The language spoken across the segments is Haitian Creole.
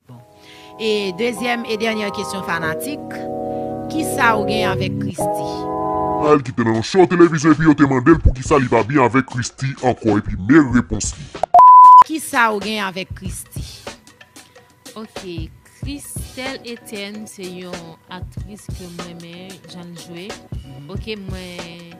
Bon. E dezyèm e dènyè kesyon fanatik, kisa ou gen avèk Christie? Al ki te nan yon show televizyon epi yo te mande l poukisa li pa byen avèk Christie ankò epi me repons li. Kisa ou gen avèk Christie? Ok, Christelle Etienne se yon aktris ke m renmen jan l jwe. Ok mwen.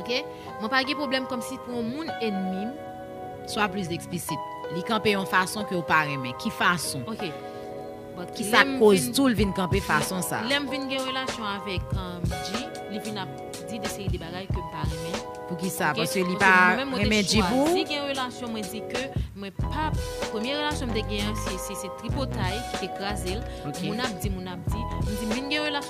Ok mwen pa gen pwoblèm kòmsi pou yon moun enmi m. Swa plis eksplisit. Li kanpe yon fason ke w pa renmen. Ki fason? Ok but Ki sa k koz tou l vin kanpe fason sa a? Lè m vin gen relasyon avèk Dji, li vin ap di de seri de bagay ke m pa renmen. Poukisa? Paske li pa renmen Dji pou ou? Paske mwen menm mwen te chwazi gen relasyon mwen di ke mwen pa Premye relasyon m te gen an se tripotay ki te kraze l. Moun ap di, moun ap di. M di m vin gen relasyon.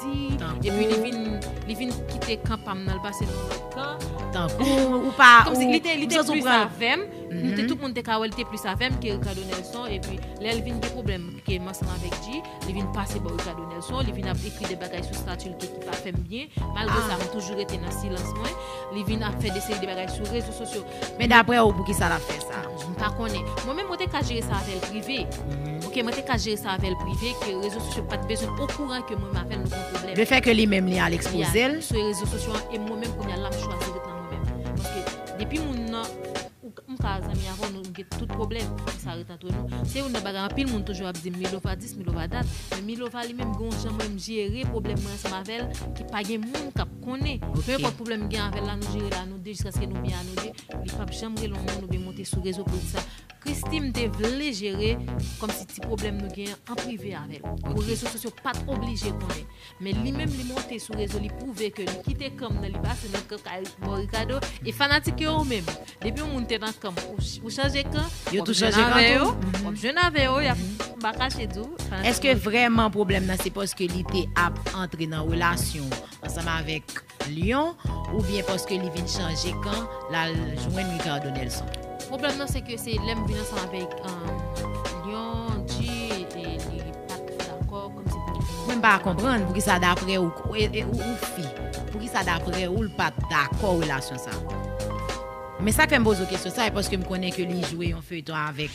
di epi li vin li vin kite kan pam nan li pase nan lòt kan tankou ou pa kòm si li te li te plis avèm nou te tout moun te ka wè li te plis avèm ke Ricardo Nelson epi lèl vin gen pwoblèm ke m ansanm avèk Dji li vin pase bò Ricardo Nelson li vin ap ekri de bagay sou stati l ke ki pa fè m byen malgre sa mwen toujou rete nan silans mwen li vin ap fè de seri de bagay sou rezo sosyo Men daprè ou poukisa lap fè sa? M pa konnen. Mwen menm mwen te ka jere sa avèl prive. Ok mwen te ka jere sa avèl prive ke rezo sosyo pat bezwen okouran ke mwen menm avèl nou gen pwoblèm. Le fè ke li menm li al ekspoze l. Sou rezo sosyo an e mwen menm kounya la m chwazi ret nan mwen menm. Paske depi moun nan ou m ka zanmi avèw nou gen tout pwoblèm. Antre nou, se youn nan bagay anpil moun toujou ap di m Milova dis, Milova dat, men Milova li menm gen yon jan mwen m jere pwoblèm mwen ansanm avè l ke pa gen moun k ap konnen. Pe enpòt pwoblèm m gen avè l la, nou jere l a nou de jiskaske nou byen a nou de. Li p ap janm rele yon moun oubyen monte sou rezo pou l di sa. Christie m te vle jere kòmsi ti pwoblèm nou gen an prive avè l, pou rezo sosyo pa t oblije konnen. Men li menm li monte sou rezo li pwouve ke li kite kanm nan li pase nan kan kay bon Ricardo e fanatik yo ou menm depi yon moun te nan kanm ou chanje kan yo tou chanje kan tou wap jwenn avè yo yap pa kache di w eske vrèman pwoblèm nan se paske li te ap antre nan relasyon ansanm avèk Lyon ou byen paske li vin chanje kan lal jwenn Ricardo Nelson. Pwoblèm nan se ke se lèm vin ansanm avèk Lyon, Di e li pat dakò kòm se pou. Mwen m pa konprann poukisa daprè ou ou fi poukisa daprè ou l pat dakò relasyon sa. Men sak fèm poze w kesyon sa e paske m konnen ke li jwe yon feyton avèk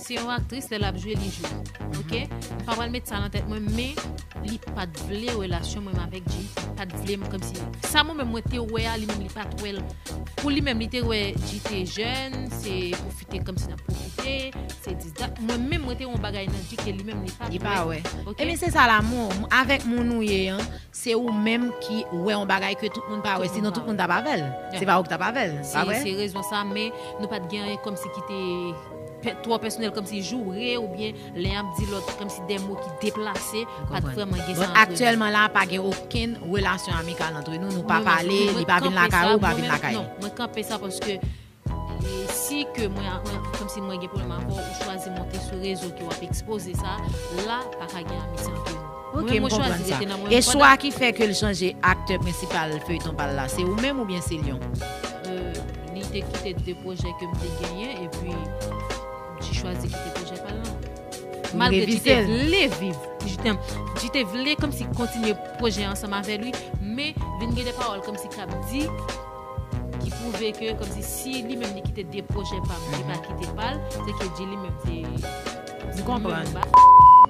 Se yon aktris lè lap jwe li jwe ok m pa pral met sa nan tèt mwen men li pat vle relasyon mwen avèk Jay li pat vlem kòmsi sa mwen menm mwen te wè a li menm li pat wèl pou li menm li te wè Jay te jèn se pwofite kòmsi nap pwofite se dis dat mwen menm mwen te wè yon bagay nan Jay ke li menm li pat wè ok ebyen se sa lamou avèk moun ou ye an. Se ou menm ki wè yon bagay ke tout moun pa wè, sinon tout moun tap avèl. Se pa ou ki tap avèl, pa vre? Se rezon sa, men nou pat gen anyen kòmsi ki te twò pèsonèl, kòmsi joure oubyen len y ap di lòt kòmsi de mo ki deplase, pat vrèman gen sa antre nou. Aktyèlman la pa gen okenn relasyon amikal antre nou, nou pa pale, li pa vin lakay ou, ou pa vin lakay li. Non, mwen kanpe sa paske. E si ke mwen avè kòm si mwen gen pwoblèm avè w ou chwazi monte sou rezo ke wap ekspoze sa, la pa ka gen amitye antre nou. Ok m konprann sa. E chwa ki fè ke l chanje aktè prensipal feyton pa l la se ou menm oubyen se l yon. Li te kite 2 pwojè ke m te genyen epi Dji chwazi kite pwojè pa l lan. Malgre Dji te vle viv Dji te vle kòm si kontinye pwojè ansanm avè li men vin gen de pawòl kòm si kap di. Ki pwouve ke komsi si li menm li kite 2 pwojè pa m li pa kite pa l se ke di li menm te Nou konprann.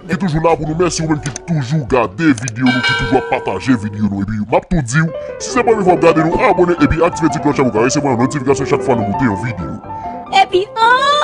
Mwen toujou la pou nou mèsi ou menm ki toujou gade video nou ki toujou ap pataje video nou epi map tou diw si se premye fwa wap gade nou abone epi aktive ti klòch la pou ka resevwa yon notifikasyon chak fwa nou pote yon video. Epi ooh.